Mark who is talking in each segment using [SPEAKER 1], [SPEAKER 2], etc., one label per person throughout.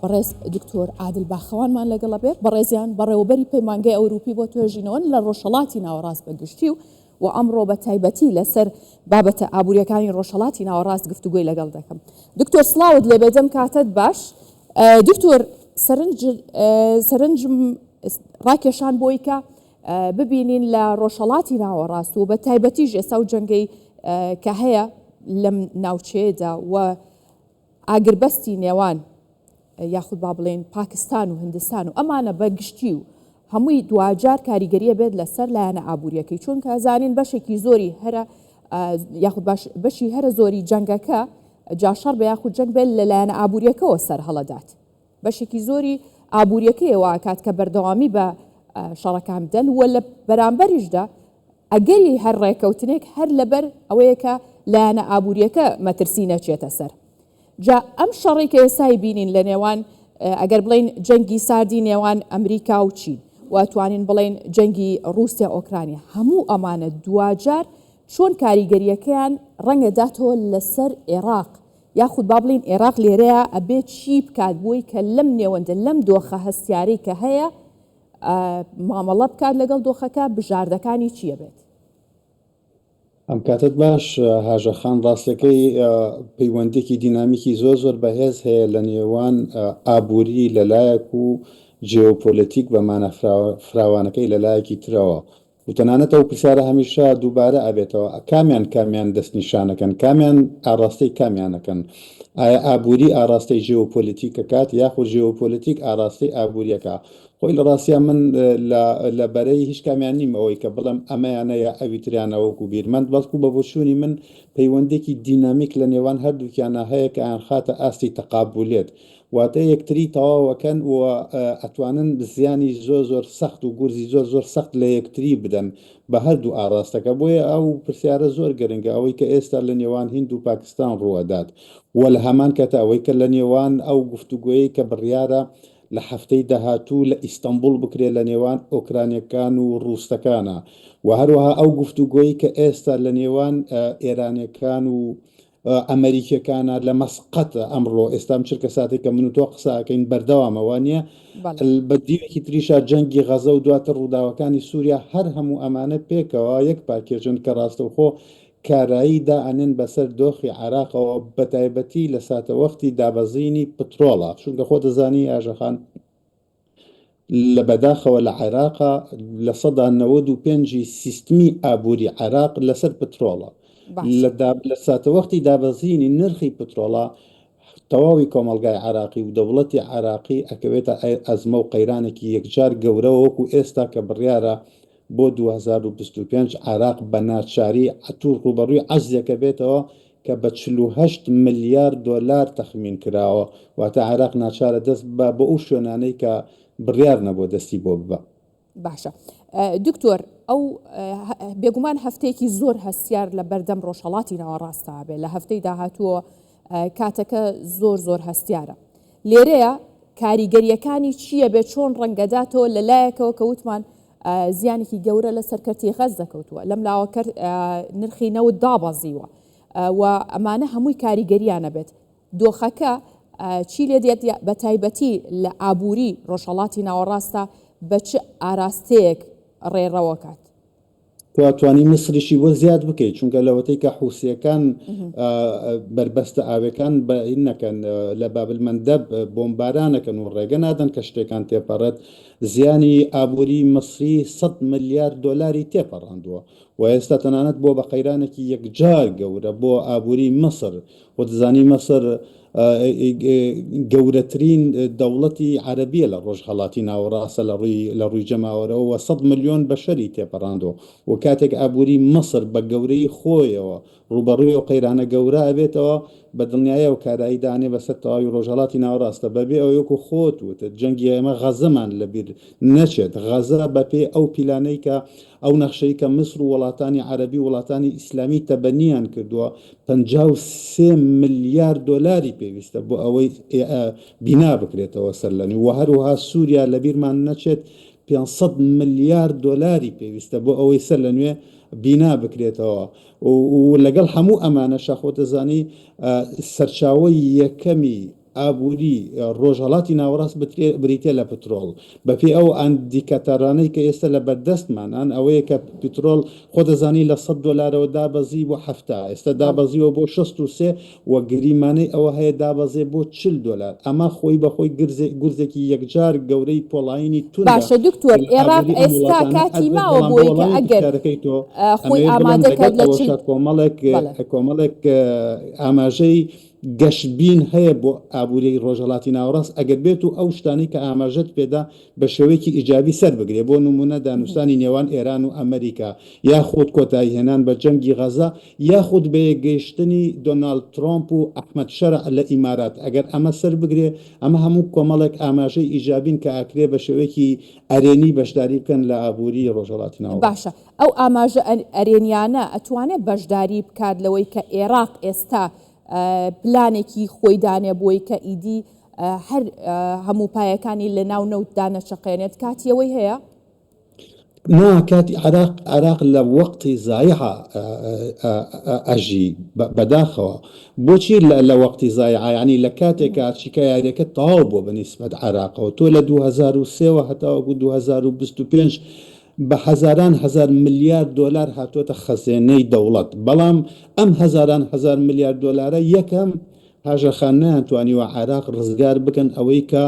[SPEAKER 1] بەڕێز دکتۆر عادل باخەوانمان لەگەڵە بێت، بەڕێزیان بەڕێوەبەری پەیمانگەی ئەوروپی بۆ توێژینەوەن لە ڕۆژهەڵاتی ناوەڕاست بە گشتی و و ئەمڕۆ بە تایبەتی لەسەر بابەتە ئابووریەکانی ڕۆژهەڵاتی ناوەڕاست گفتوگۆی لەگەڵ دەکەم. دکتۆر سڵاوت لێبێت دەم کاتەت باش. دکتۆر سەرنج سەرنجم ڕاکێشان بۆی کە ببینین لە ڕۆژهەڵاتی ناوەڕاست و بە تایبەتیش ئێستا و جەنگەی کە هەیە لەم ناوچەیەدا و ئاگربەستی نێوان یاخود با بڵێین پاکستان و هندستان و ئەمانە بە گشتی و هەمووی دواجار کاریگەریە بێت لەسەر لایەنە ئابوووریەکەی چونکە زانین بەشێکی زۆری هەرە یاخود باش بەشی هەرە زۆری جەنگەکە جاشەڕ بە یاخود جەنگ بێت لە لایەنە ئابوووریەکەەوە سەر هەڵەدات بەشێکی زۆری ئابوووریەکەیەوە کات کە بەردەوامی بە شەڕەکان بدەن وە لە بەرامبەریشدا ئەگەری هەر ڕێکەوتنێک هەر لەبەر ئەوەیە کە لایەنە ئابوورییەکە مەترسی نەچێتە سەر. جا ئەم شەڕەی کە ئێستا ئەیبینین لە نێوان ئەگەر بڵێین جەنگی ساردی نێوان ئەمریکا و چین و ئەتوانین بڵێین جەنگی ڕووسیا ئۆکرانیا، هەموو ئەمانە دواجار چۆن کاریگەرییەکەیان ڕەنگە داتەوە لەسەر ئێراق، یاخود با بڵێین ئێراق لێرەیا ئەبێ چی بکات بۆی کە لەم نێوەندە، لەم دۆخە هەستیارەی کە هەیە، مامەڵە بکات لەگەڵ دۆخەکە بژاردەکانی چیە بێت؟
[SPEAKER 2] ئەم کاتت باش هاژەخان ڕاستەکەی پەیوەندێکی دینامیکی زۆر زۆر بەهێز هەیە لە نێوان ئابووری لەلایەک و جێۆپۆلەتیک بە مانە فراوانەکەی لەلایەکی ترەوە و تەنانەت ئەو پرسیارە هەمیشە دووبارە ئەبێتەوە کامیان کامیان دەستنیشانەکەن کامیان ئاڕاستەی کامیانەکەن ئایا ئابووری ئاڕاستەی ژێوپۆلیتیک ئەکات یاخود ژێوپۆلیتیک ئاڕاستەی ئابووری ئەکا خۆی لە ڕاستیا من لە بەرەی هیچ کامیان نیم ئەوەی کە بڵێم ئەمەیانە یا ئەویتریانە وەکو بیرمەند بەڵکو بە بۆچوونی من پەیوەندێکی دینامیک لە نێوان هەردووکیانا هەیە کە ئەیانخاتە ئاستی تەقابولیت واتە یەکتری تەواو ئەکەن و ئەتوانن زیانی زۆر زۆر سەخت و گورزی زۆر زۆر سەخت لە یەکتری بدەن بە هەردوو ئاڕاستەکە بۆیە ئەو پرسیارە زۆر گرنگە ئەوەی کە ئێستا لە نێوان هیند و پاکستان ڕوو ئەدات و لە هەمان کاتا ئەوەی کە لە نێوان ئەو گفتوگۆیەی کە بڕیارە لە هەفتەی داهاتوو لە ئیستەنبوڵ بکرێت لە نێوان ئۆکرانیەکان و ڕووسەکانا و هەروەها ئەو گفتوگۆی کە ئێستا لە نێوان ئێرانیەکان و ئەمەریکیەکانە لە مەسقەت ئەمڕۆ ئێستام چرکە ساتێک کە من و تۆ قساکەین بەردەوامە وانە بە دیوێکی تریشا جەنگی غەزە و دواتر ڕووداوەکانی سووریا هەر هەموو ئەمانە پێکەوە یەک پاکێژن کە ڕاستەوخۆ کارایی دا ئەنێن بەسەر دۆخی عراقەوە بەتایبەتی لە ساتەوەختی دابەزینی پترۆڵە چونکە خۆ دەزانی ئاژەخان لە بەداخەوە لە عێراقا لە سەدا نەوەد و پێنج ی سیستمی ئابووری عێراق لەسەر پترۆڵە باشە لە دا لە ساتەوەختی دابەزینی نرخی پترۆڵا تەواوی کۆمەڵگای عێراقی و دەوڵەتی عێراقی ئەکەوێتە ئەزمە و قەیرانێکی یەکجار گەورەوە وەکو ئێستا کە بڕیارە بۆ دوو هەزار و بیست و پێنج عێراق بە ناچاری ئەتوو ڕووبەڕووی عەجزێکە بێتەوە کە بە چل و هەشت ملیار دۆلار تەخمین کراوە، واتە عێراق ناچارە دەست ببا بۆ ئەو شوێنانەی کە بڕیار نەبووە دەستی بۆ ببا. باشە
[SPEAKER 1] دکتۆر ئەو بێگومان هەفتەیەکی زۆر هەستیار لە بەردەم ڕۆژهەڵاتی ناوەڕاستەوە بێ لە هەفتەی داهاتووە کاتەکە زۆر زۆر هەستیارە لێرەیە کاریگەریەکانی چییە بێ چۆن ڕەنگەداتەوە لە لایەکەوە کە وتمان زیانێکی گەورە لەسەر کەرتی غەززە کەوتووە، لەم لاوە کەرت نرخی نەوت دابەزیوە و ئەمانە هەمووی کاریگەریانە بێت دۆخەکە چی لێ دێت بە تایبەتی لە ئابووری ڕۆژهڵاتی ناوەڕاستە بە چ ئاراستەیەک ڕێڕەوەکات. خوا
[SPEAKER 2] توانی میسریشی بۆ زیاد بکەیت چونکە لەوەتەی کە حوسیەکان بەربەستە ئاوێکان بە نەکەن لە بابل مەندەب بۆمبارانەکەن و ڕێگە نادەن کە شتێکان تێپەڕێت زیانی ئابووریی میسری سەد ملیار دۆلاری تێپەڕاندووە و ئێستا تەنانەت بووە بە قەیرانێکی یەکجار گەورە بۆ ئابووریی میسر و دەزانی میسر گەورەترین دەوڵەتی عەرەبییە لە ڕۆژهەڵاتی ناوەڕاست لە ڕووی جەماوەرەوە و سەد ملیۆن بەشەری تێپەڕاندووە و کاتێک ئابووریی میسر بە گەورەیی خۆیەوە ڕووبەڕووی ئەو قەیرانە گەورە ئەبێتەوە، بە دڵنیایی ئەو کارە هی دانێ بەسەر تەواوی ڕۆژهەڵاتی ناوەڕاستە، بەبێ ئەوەی وەکو خۆت وتت جەنگی ئێمە غەزەمان لەبیر نەچێت، غەزە بەپێی ئەو پیلانەی کە ئەو نەخشەی کە میسر و وڵاتانی عەرەبی و وڵاتانی ئیسلامی تەبەنیان کردووە پەنجا و سێ ملیار دۆلاری پێویستە بۆ ئەوەی بینا بکرێتەوە سەرلەنوێ و هەروەها سوریا لەبیرمان نەچێت پێنج سەد ملیار دۆلاری پێویستە بۆ ئەوەی سەرلەنوێ بینا بکرێتەوە، و لەگەڵ هەموو ئەمانەشا خۆت دەزانی سەرچاوەی یەکەمی ئابووری ڕۆژهەڵاتی ناوەڕاست بریتە لە پترۆڵ بەپێی ئەو ئەندیکاتەرانەی کە ئێستا لە بەردەستمانان ئەوەیە کە پترۆڵ خۆ دەزانی لە سەد دۆلارەوە دابەزی بۆ حەفتا ئێستا دابەزیوە بۆ شەست و سێ و گریمانەی ئەوە هەیە دابەزێ بۆ چل دۆلار ئەمە خۆی بە خۆی گرزێ گورزێکی یەکجار گەورەی پۆڵایینی توندە باشە دکتۆر لە ئێراق
[SPEAKER 1] ئابووری ئەم ئێستا وڵاتانە کاتی ئەگرێت ماوە بەڵام بۆ بۆی کە وەڵامی ئەگەر پرسیارەکەی تۆ ئە، خۆی ئەمەوێت بڵێم ئامادە کات لەگەڵ لە چل ئەوەشا کۆمەڵێک بەڵێ. ە
[SPEAKER 2] کۆمەڵێک ە ئاماژەی گەشبین هەیە بۆ ئابووریی ڕۆژهەڵاتی ناوەڕاست ئەگەر بێت و ئەو شتانەی کە ئاماژەت پێ دا بە شێوەیەکی ئیجابی سەر بگرێ بۆ نموونە دانووستانی نێوان ئێران و ئەمریکا یاخود کۆتایی هێنان بە جەنگی غەزە یاخود بە یەکگەیشتنی دۆناڵد ترۆمپ و ئەحمەد شەرع لە ئیمارات، ئەگەر ئەمە سەربگرێ، ئەمە هەموو کۆمەڵێک ئاماژەی ئیجابین کە ئەکرێ بە شێوەیەکی ئەرێنی بەشداری بکەن لە ئابووریی ڕۆژهەڵاتی ناوەڕاست. باشە ئەو ئاماژە
[SPEAKER 1] ئەرێنییانە ئەتوانێ بەشداری بکات لەوەی کە ئێراق ئێستا پلانێکی خۆی دانێ بۆی کە ئیدی هەر هەموو پایەکانی لەناو نەوتدا نەچەقێنێت، کاتی ئەوەی هەیە؟ نا
[SPEAKER 2] کاتی عێراق عێراق لە وەقتی زایعە ئە ئە ئە ئەژی بە بەداخەوە بۆچی لە لە وەقتی زایعە یانی لە کاتێکا چیکە یاریەکە تەواو بووە بە نیسبەت عێراقەوە تۆ لە 2023 وە هەتاوەکو 2025 بە هەزاران هەزار ملیار دۆلار هاتووەتە خەزێنەی دەوڵەت بەڵام ئەم هەزاران هەزار ملیار دۆلارە یەکەم پاژەکان نەیانتوانیوە عێراق ڕزگار بکەن، ئەوەی کە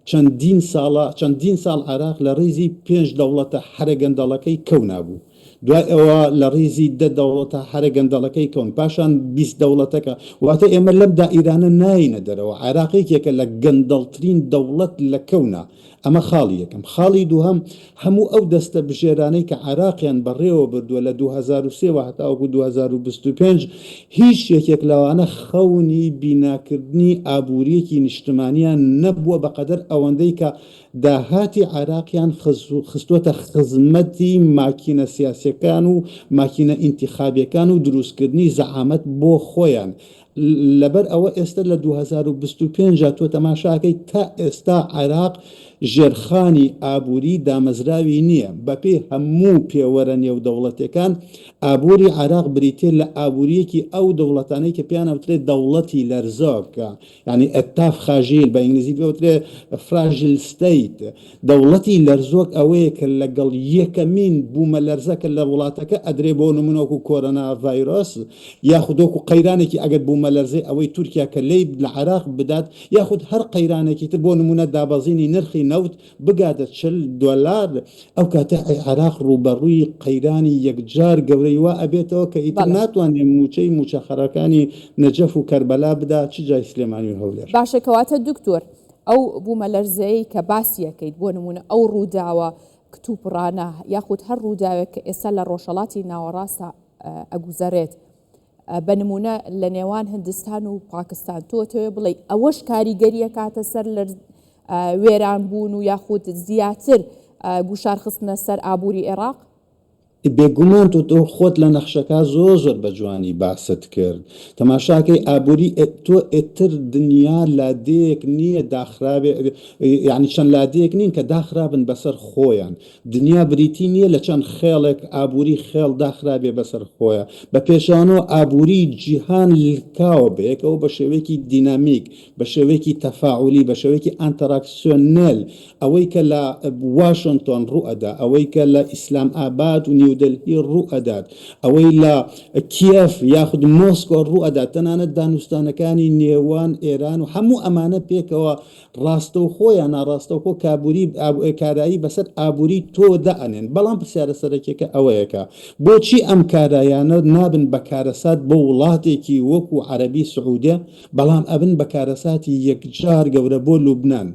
[SPEAKER 2] چەندین ساڵە، چەندین ساڵ عێراق لە ڕیزی پێنج دەوڵەتە هەرە گەندەڵەکەی کەونا بوو، دوای ئەوە لە ڕیزی دە دەوڵەتە هەرە گەندەڵەکەی کەون، پاشان بیست دەوڵەتەکە، واتە ئێمە لەم دائیرانە نایینە دەرەوە، عێراق یەکێکە لە گەندەڵترین دەوڵەت لە کەونا، ئەمە خاڵی یەکەم. خاڵی دووهەم، هەموو ئەو دەستە بژێرانەی کە عێراقیان بەڕێوە بردووە لە دوو هەزار و سێ وە هەتاوەکو دوو هەزار و بیست و پێنج، هیچ یەکێک لەوانە خەونی بیناکردنی ئابوورییەکی نیشتمانیان نەبووە بەقەدەر ئەوەندەی کە داهاتی عێراقیان خستووەتە خزمەتی ماکینە سیاسییەکان و ماکینە ئینتیخابییەکان و دروستکردنی زەعامەت بۆ خۆیان لەبەر ئەوە ئێستە لە دوو هەزار و بیست و پێنج جا تۆ تەماشاکەی تا ئێستا عێراق ژێرخانی ئابووری دامەزراوی نییە بەپێی هەموو پێوەرە نێودەوڵەتێکان ئابووری عێراق بریتیە لە ئابووریەکی ئەو دەوڵەتانەی کە پێیان ئەوترێت دەوڵەتی لەرزۆک یعنی ئەتاف خاژیل بە ئینگلیزی پێوترێ فراژیل ستەیت دەوڵەتی لەرزۆک ئەوەیە کە لەگەڵ یەکەمین بوومەلەرزە کە لە وڵاتەکە ئەدرێ بۆ نموونە وەکو کۆرۆنا ڤایرۆس یاخود وەکو قەیرانێکی ئەگەر بوومەلەرزەی ئەوەی تورکیا کە لێی لە عێراق بدات یاخود هەر قەیرانێکی تر بۆ نموونە دابەزینی نرخی نەوت بگاتە چل دۆلار ئەو کاتە عێراق ڕووبەڕووی قەیرانی یەکجار گەورەی وا ئەبێتەوە کە ئیتر بەڵێ ناتوانێ مووچەی مووچەخەرەکانی نەجەف و کەربەلا بدا چ جای سلێمانی و هەولێر. باشە کەواتە دکتۆر
[SPEAKER 1] ئەو بوومەلەرزەیەی کە باسیەکەیت، بۆ نموونە ئەو ڕووداوە کتوپڕانە، یاخود هەر ڕووداوێک کە ئێستا لە ڕۆژهەڵاتی ناوەڕاستا ئەگوزەرێت، بە نموونە لە نێوان هندستان و پاکستان، تۆ ئەتەوێ بڵێی ئەوەش کاریگەری ئەکاتە سەر لەرز وێران بوون و یاخود زیاتر گوشارخستنە سەر ئابووری ئێڕاق؟ بێگومان
[SPEAKER 2] تۆ تۆ خۆت لە نەخشەکە زۆر زۆر بە جوانی باست کرد تەماشاکەی ئابووری ئێ- تۆ ئێتر دنیا لادێیەک نییە داخراوێ ئێ- ئێ- یعنی چەند لادێیەک نین کە داخرابن بەسەر خۆیان دنیا بریتی نییە لە چەند خێڵێک ئابووری خێڵ داخرابێ بەسەر خۆیان بە پێچەوانەوە ئابووری جیهان لکاوە بەیەکەوە بە شێوەیەکی دینامیک بە شێوەیەکی تەفاعولی، بە شێوەیەکی ئانتەراکسیۆنێل، ئەوەی کە لە واشنتۆن ڕوو ئەدا، ئەوەی کە لە ئیسلام ئاباد و نیودەلهی ڕوو ئەدات، ئەوەی لە کیێڤ یاخود مۆسکۆ ڕوو ئەدات، تەنانەت دانوستانەکانی نێوان ئێران و هەموو ئەمانە پێکەوە ڕاستەوخۆ یا ناڕاستەوخۆ کابووری، کارایی بەسەر ئابووری تۆ دا ئەنێن. بەڵام پرسیارە سەرەکیەکە ئەوەیە کە بۆچی ئەم کارایانە نابن بە کارەسات بۆ وڵاتێکی وەکوو عەرەبی سعوودێ، بەڵام ئەبن بە کارەساتی یەکجار گەورە بۆ لوبنان.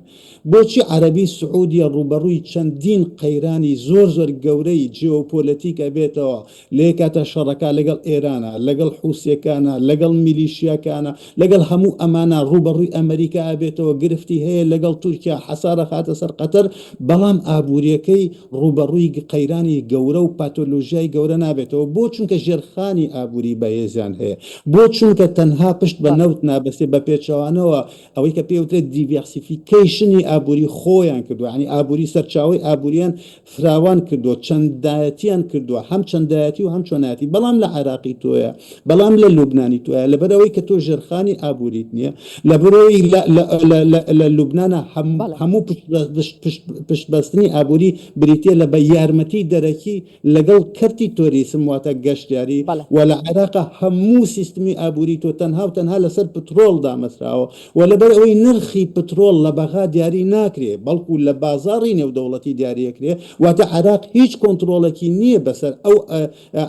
[SPEAKER 2] بۆچی عەرەبی سعودیە ڕووبەڕووی چەندین قەیرانی زۆر زۆر گەورەی جیۆپۆلەتیک ئەبێتەوە، لەیەکاتا شەڕەکا لەگەڵ ئێرانا، لەگەڵ حوسیەکانا، لەگەڵ میلیشیاکانا، لەگەڵ هەموو ئەمانا ڕووبەڕووی ئەمەریکا ئەبێتەوە، گرفتی هەیە لەگەڵ تورکیا، حەسار ئەخاتە سەر قەتەر، بەڵام ئابووریەکەی ڕووبەڕووی قەیرانی گەورە و پاتۆلۆژیای گەورە نابێتەوە، بۆ چونکە ژێرخانی ئابووری بەهێزیان هەیە. بۆ چونکە تەنها پشت بە نەوت نابەستێت بە پێچەوانەوە ئەوەی کە پێ وترێت دیڤیاسیفیکەیشنی ئابووری خۆیان کردووە ینی ئابووری سەرچاوی ئابووریان فراوان کردووە چەندایەتیان کردووە هەم چەندایەتی و هەم چۆنایەتی بەڵام لە عێراقی تۆیە بەڵام لە لوبنانی تۆیە لەبەر ئەوەی کە تۆ ژێرخانی ئابووریت نییە لە برۆی لە لوبناە هەموو پشت بەستنی ئابووری بریتە لە بە یارمەتی دەرەکی لەگەڵ کەرتی تۆریسم واتە گەشتیاری بەڵێ. و لە عێراقا هەموو سیستمی ئابووری تۆ تەنها و تەنها لەسەر پترۆڵ دامەزراوە و لەبەر ئەوەی نرخی پترۆڵ لە بەغا دیاری ناکرێ بەڵکوو لە بازاڕی نێودەوڵەتی دیاری ئەکرێ واتە عێراق هیچ کۆنتڕۆڵێکی نییە بەسەر ئەو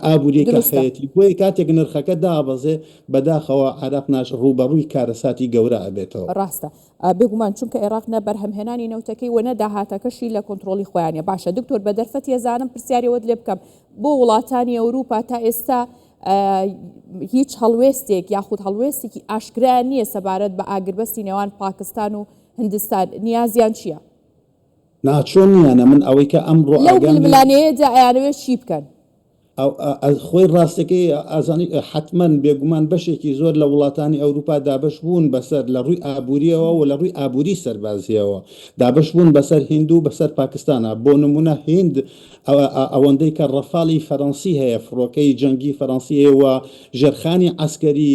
[SPEAKER 2] ئابووریەی کە دروستە. هەیەتی بۆیە کاتێک نرخەکە دابەزێ بەداخەوە عێراق ناش ڕووبەڕووی کارەساتی گەورە ئەبێتەوە. ڕاستە.
[SPEAKER 1] بێگومان چونکە عێراق نە بەرهەمهێنانی نەوتەکەی و نە داهاتەکەشی لە کۆنترۆڵی خۆیانە باشە دکتۆر بە دەرفەت هێزانم پرسیارەوەت لێ بکەم بۆ وڵاتانی ئەوروپا تا ئێستا هیچ هەڵوێستێک یاخود هەڵوێستێکی ئاشکرا نییە سەبارەت بە ئاگربەستی نێوان پاکستان و هندستان نیازیان چییە؟ ناچۆ
[SPEAKER 2] نییانە من ئەوەی کە ئەمڕۆ لەو ململانێیەدا
[SPEAKER 1] ئەیانەوێت چی بکەن؟
[SPEAKER 2] خۆی ڕاستەکەی ئازانی حتمەن بێگومان بەشێکی زۆر لە وڵاتانی ئەوروپا دابش بوون بەسەر لە ڕووی ئابووریەوە و لە ڕووی ئابووری سەربازیەوە دابش بوون بەسەر هندو بەسەر پاکستانە بۆ نمونە هند ئەوەندەی کە ڕەفاڵی فەرەنسی هەیە فڕۆکەی جەنگی فەرەنسیەوە ژێرخانی عسکەری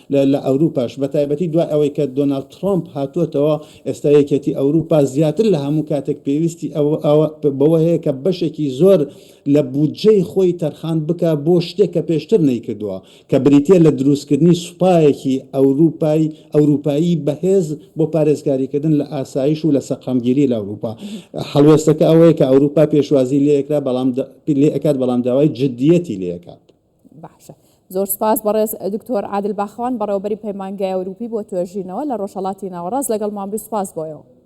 [SPEAKER 2] لە ئەوروپاش بەتایبەتی دوای ئەوەی کە دۆناڵد ترۆمپ هاتووەتەوە ئێستا یەکێتی ئەوروپا زیاتر لە هەموو کاتێک پێویستی بەوە هەیە کە بەشێکی زۆر لە بودجەی خۆی تەرخان بکا بۆ شتێک کە پێشتر نەیکردووە کە بریتیە لە دروستکردنی سوپایەکی ئەوروپای ئەوروپایی بەهێز بۆ پارێزگاریکردن لە ئاسایش و لە سەقامگیری لە ئەوروپا هەڵوێستەکە ئەوەیە کە ئەوروپا پێشوازی لێکرا بەڵام لێ ئەکات بەڵام داوای جدیەتی لێ ئەکات. باشە
[SPEAKER 1] زۆر سپاس بەڕێز دکتۆر عادل باخەوان بەڕێوەبەری پەیمانگای ئەوروپی بۆ توێژینەوە لە ڕۆژهەڵاتی ناوەڕاست لەگەڵمان بی سپاس بۆیەوە